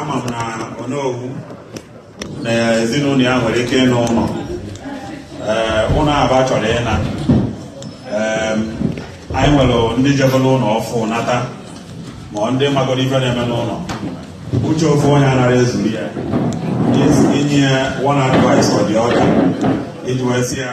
ama m na Onowu na ezinụlọ ya nwere ike ịna ụlọ ụlọ aba chọrọ ịna anyị nwere ndị jebere ụlọ ọfụ nata ma ndị magoro ife na-eme n'ụlọ uche ofu onye anara ezuru ya inye ya one advice or the other iji wee tasie ya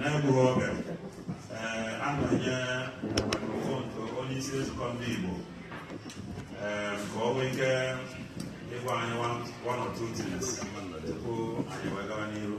na-egbughị oge aga m enye microphone to onye isi nzukọ ndị Igbo ka o nwee ike ịgwa anyị one or two things tupu anyị wee gawa n'iru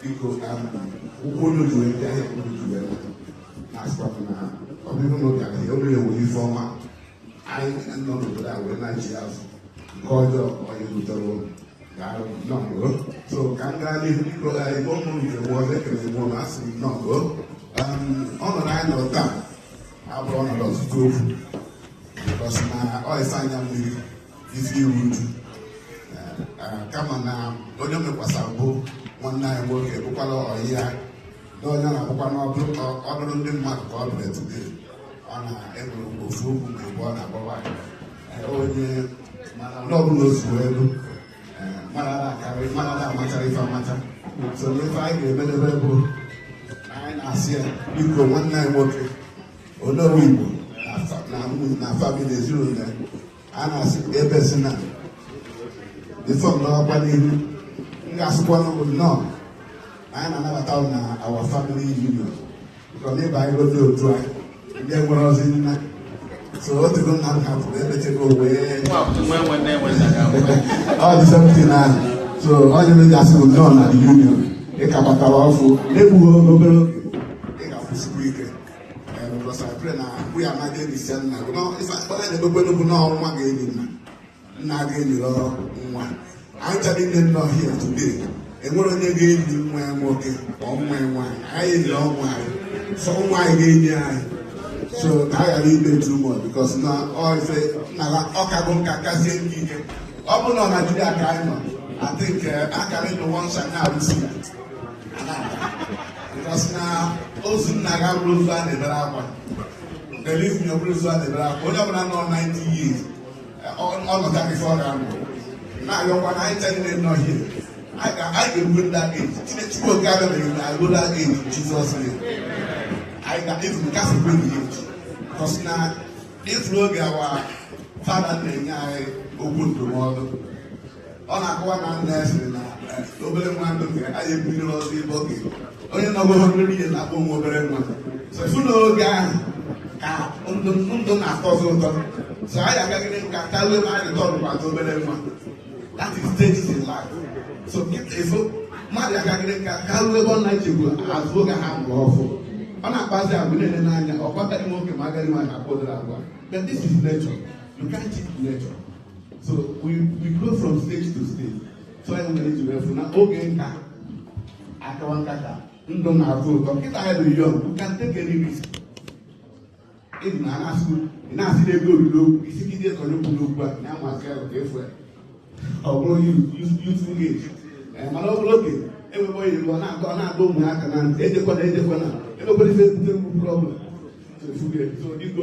biko ka m ụkwụ unu ji wee bịa ihe unu ji wee na-asịkwa m na ọ bụrụ na ụbịa ihe olu ewu ife ọma anyị nọ n'obodo a wee na-eji azụ nke ọjọọ onye butere ụlọ ga-arụ nnọọ so ka m gaa n'ihu biko igbo ụmụ nke bụ ọzọ ekele igbo na asị m nnọọ ọnọdụ anyị nọrọ taa abụrọ ọnọdụ ọtụtụ okwu because na ọ ịsa anya mmiri ezigbo iru uju kama na onye mekwasa bụ nwanne anyị nwoke bụkwara ọyị ya na onye na-abụkwa n'ọdụrụ ndị mmadụ ka ọ dụrụ etide ọ na-enwere ofu okwu ma ebe ọ na-agbawa onye ndị ọbụla ozugbo elu mara akarị mara amachara ife amacha so n'ife anyị ga-emedebe bụ anyị na-asị ya biko nwanne anyị nwoke onowu igbo na family ezinụlọ ya a na-asị ka ebe si na ịsọ ndọrọkwa n'ihu m ga-asịkwa unu nnọọ anyị na-anabata m na our family union chọrọ na ịba anyị gote otu a ndị nwere ozi nna so o tego nna m hapụrụ emechego wee ọ dị septin ahụ so onye m ga-asị m nnọọ na union ị ka batara ọfụ na-egbughị obere oge because I pray na we are not getting send na no ife a na-ekpekwanụ bụ na ọ nwa ga-eli nna nna ga-eliro nwa anyị ncha niine nọ here today enwerọ onye ga-eli nwa ya nwoke ma nwa ya nwaanyị anyị eliro nwa anyị so nwa anyị ga-eli anyị so ka a ghara ibe too much because na ọ ife na ọ ka bụ nka kazie nke ike ọ bụ na ọ na-adịghị aka anyị nọ I think uh, I can in the one side now. Because na ozu nna gị abụrọ ozu a na-ebere akwa believe me ọ bụrọ ozu a na-ebere akwa onye ọbụla nọ 90 years ọnọdụ aka ife ọ ga-anọ na-ayọkwa na anyị ncha niine nọ here anyị ga-erugo ndị aka age chineke chukwu okike abịama na agụrụ aka eji jizọs anyị ga-efu kasị kwe na ihe because na ị fụrụ oge our father na-enye anyị okwu ndụmọdụ ọ na-akọwa na nna ya sịrị na eh, obere nwa ndụ nke a ebiri ọzọ ibe oge onye nọgo hundred years na-akpọ ya obere nwa so ị fụ na oge ahụ ka ndụ ndụ na-atọzi ụtọ so anyị akagide nka kawa ma anyị tọrọ kwado obere nwa that is stage in life so ị fụ mmadụ akagide nka karuo ebe ọ na-ejekwu azụ oge a mụrụ ọfụ ọ na-akpazi agwa na-ele n'anya ọ kwataghị nwoke ma agaghị ma na-akpa ụdịrị agwa but this is nature you can't cheat nature so we we go from stage to stage so anyị nwere iji wee fụ na oge nka akawa nkata ndụ na-atọ ụtọ kịta anyị bụ young you can take any risk ịdị na anasụ ị na-asị na ego oriri okwu isi gị dị ekọrọ okwu n'okwu a na amasị ahụ ka efu ya ọ bụrụ youth ga-eje mana ọ bụrụ oge enwebe onye ọ na-adọ ọ na-adọ ụmụaka na ntị ejekwana ejekwana emekwara ife bute mgbu problem so efuge so dịgo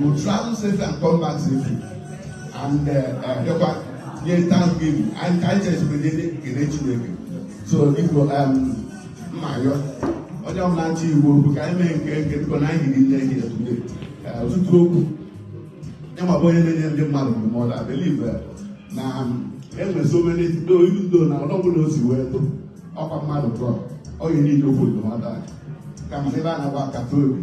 will travel safe and come back safely and bịakwa uh, uh, nye thanksgiving anyị ka anyị chesiri gị kele Chineke so biko um, m na-ayọ onye ọbụla ndị igbo bụ ka anyị mee nke nke biko na anyị hiri nne gị etude ọtụtụ okwu ịma bụ onye na-enye ndị mmadụ ndụmọdụ I believe uh, na um, enwere so many do ilu ndo na ọnụ ọbụla o si wee tụ ọkwa mmadụ tụọ ọ ga-enye okwu ndụmọdụ a kama ebe a na-agba nkata obi